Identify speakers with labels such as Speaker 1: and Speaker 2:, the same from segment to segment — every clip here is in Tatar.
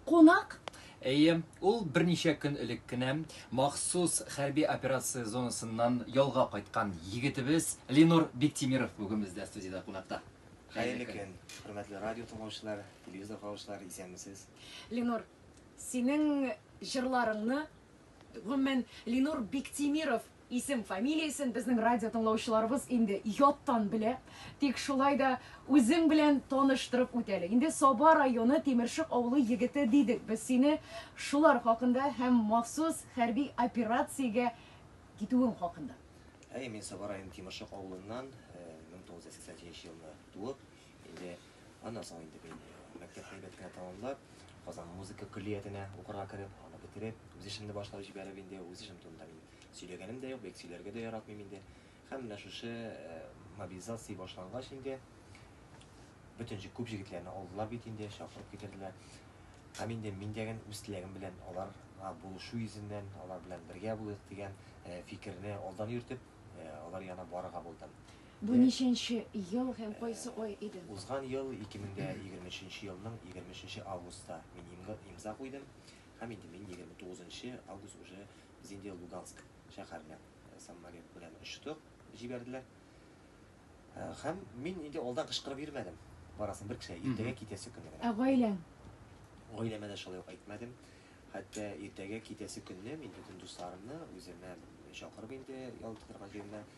Speaker 1: Кунак? Әйе,
Speaker 2: ул берничә көн элек кенә махсус хәрби операция зонасыннан ялга кайткан егетебез Ленур Биктимиров бүген бездә студиядә кунакта. Хәерле көн,
Speaker 3: хөрмәтле радио тыңлаучылар, телевизор караучылар, исәнмесез. Ленур,
Speaker 1: синең җырларыңны, гомумән, Ленур Биктимиров Исем, фамилиясен безнең радио тыңлаучыларыбыз инде яттан белә. Тик шулай да үзең белән таныштырып үт әле. Инде Саба районы Тимершык авылы егете дидек без сине шулар хакында һәм махсус хәрби операциягә китүең хакында. Әйе, мин Саба
Speaker 3: районы Тимершык авылыннан, 1988 елны туып, Инде аннан соң инде мин мәктәп әйбәт кенә тәмамлап, Казан музыка көллиятенә укырга кереп, аны бетереп, үз эшемне башлап җибәреп инде, үз эшем турында мин сөйләгәнем дә юк, бик сөйләргә дә яратмыйм инде. Һәм менә шушы э, мобилизация башлангач инде, бөтен җи- күп җегетләрне алдылар бит инде, чакырып китерделәр. Һәм инде мин дәген үз теләгем белән аларга булышу йөзеннән, алар белән бергә булыйк дигән э, фикерне алдан йөртеп, э, алар янына барырга булдым.
Speaker 1: Бу ничәнче ел һәм кайсы ай
Speaker 3: иде? Узган ел, 2023 елның 23 августта мин имза куйдым һәм инде мин 29 август уже без инде Луганск шәһәренә самолет белән очтык, җибәрделәр. Һәм мин инде алдан кычкырып йөрмәдем. Барасын бер кешегә иртәгә китәсе көнне генә. Ә гаиләң?
Speaker 1: Гаиләмә
Speaker 3: дә шулай ук әйтмәдем. Хәтта иртәгә китәсе көнне мин бөтен дусларымны үземә чакырып инде ял итә торган җиренә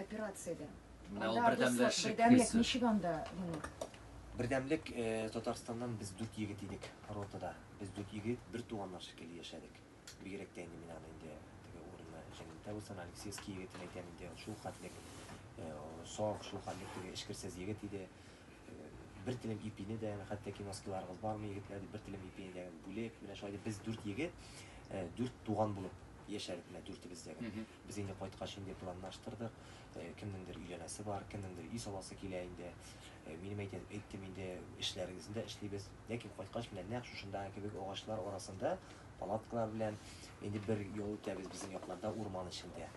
Speaker 1: Операциядә. Менә ул бердәмләшеп Бердәмлек ничек анда моны? Бердәмлек
Speaker 3: э, Татарстаннан без дүрт егет идек ротада. Без дүрт егет бер туганнар шикелле яшәдек. Бигрәк тә инде мин аны инде теге урынны җәннәттә булсын, Алексеевский егетен әйтәм инде, шул хәтлек э, саф, шул хәтлек теге эчкерсез егет иде. Э, бер телем ипине дә, хәтта киноскиларыгыз бармы, егетләр, бер телем ипине дә бүлеп, менә шулай без дүрт егет, дүрт туган булып яшәдек менә дүртебез дә. Без инде кайткач инде планлаштырдык. Кемнеңдер өйләнәсе бар, кемнеңдер өй саласы килә инде. Минем әйтәм, әйттем инде, эшләрегезне дә эшлибез. Ләкин кайткач менә нәкъ шушындагы кебек агачлар арасында палаткалар белән инде бер ял итәбез безнең якларда урман эчендә.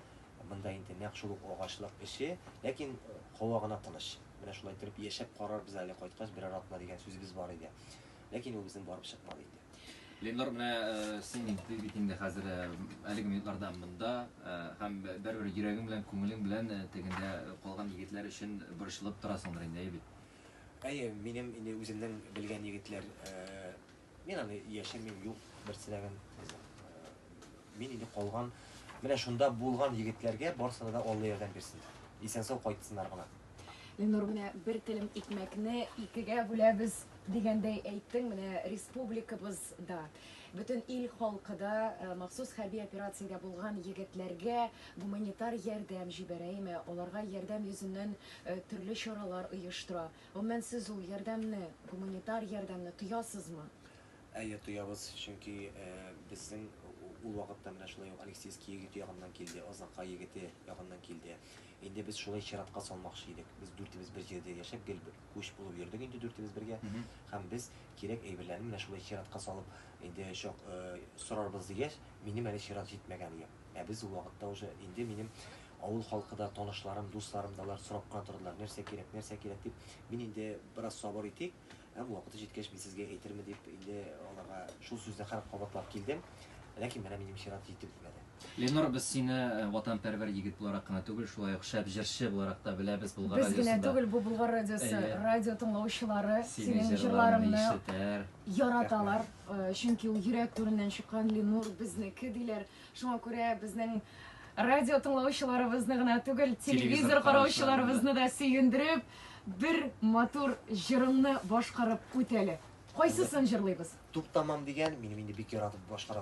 Speaker 3: Монда инде нәкъ шул ук агачлык эче, ләкин һава гына тыныч. Менә шулай торып яшәп карарбыз әле кайткач берәр атна дигән сүзебез бар иде. Ләкин ул безнең барып чыкмады инде. Ленор, менә
Speaker 2: син инде бит инде хәзер әлеге минутларда монда һәм бер-бер йөрәгең белән, күңелең белән тегендә калган егетләр өчен борчылып торасыңдыр инде, әйе бит? Әйе, минем
Speaker 3: инде үземнең белгән егетләр, мин аны яшермим, юк, бер теләгем, мин инде калган, менә шунда булган егетләргә барысына да Алла ярдәм бирсен, исән-сау кайтсыннар гына. Ленур, менә
Speaker 1: бер телем икмәкне икегә бүләбез дигәндәй әйттең, менә республикабыз да, бөтен ил халкы да э, махсус хәрби операциядә булган егетләргә гуманитар ярдәм җибәрәме, аларга ярдәм йөзеннән э, төрле чаралар оештыра. Гомумән, сез ул ярдәмне, гуманитар ярдәмне тоясызмы? Әйе, тоябыз,
Speaker 3: чөнки э, безнең ул вакытта менә шулай ук Алексейский егет ягыннан килде, Азнакай егете ягыннан килде. Инде без шулай чиратка салмакчы идек. Без дүртебез бер җирдә яшәп, гел күч булып йөрдек инде дүртебез бергә. Һәм без кирәк әйберләрне менә шулай чиратка салып, инде чак сорарбыз дигәч, минем әле чират җитмәгән иде. Ә без ул вакытта уже, инде минем авыл халкы да, танышларым, дусларым да, алар сорап кына тордылар, нәрсә кирәк, нәрсә кирәк дип. Мин инде, бераз сабыр итик, Ә вакыты җиткәч мин сезгә әйтермен дип инде аларга шул сүзне кырык кабатлап килдем. Ләкин менә минем чират җитеп җитмәде. Ленор, без сине
Speaker 2: ватанпәрвәр егет буларак кына түгел, шулай ук шәп җырчы буларак та беләбез. Болгар радиосында Без генә түгел, бу Болгар
Speaker 1: радиосы радио тыңлаучылары синең җырларыңны яраталар. Чөнки ул йөрәк түреннән чыккан Ленор безнеке диләр. Шуңа күрә безнең радио тыңлаучыларыбызны гына түгел, телевизор караучыларыбызны да сөендереп, бер матур җырыңны
Speaker 3: башкарып үтәле. Кайсысын җырлыйбыз? Туктамам дигән,
Speaker 1: минем
Speaker 3: инде бик
Speaker 1: яратып
Speaker 3: башкара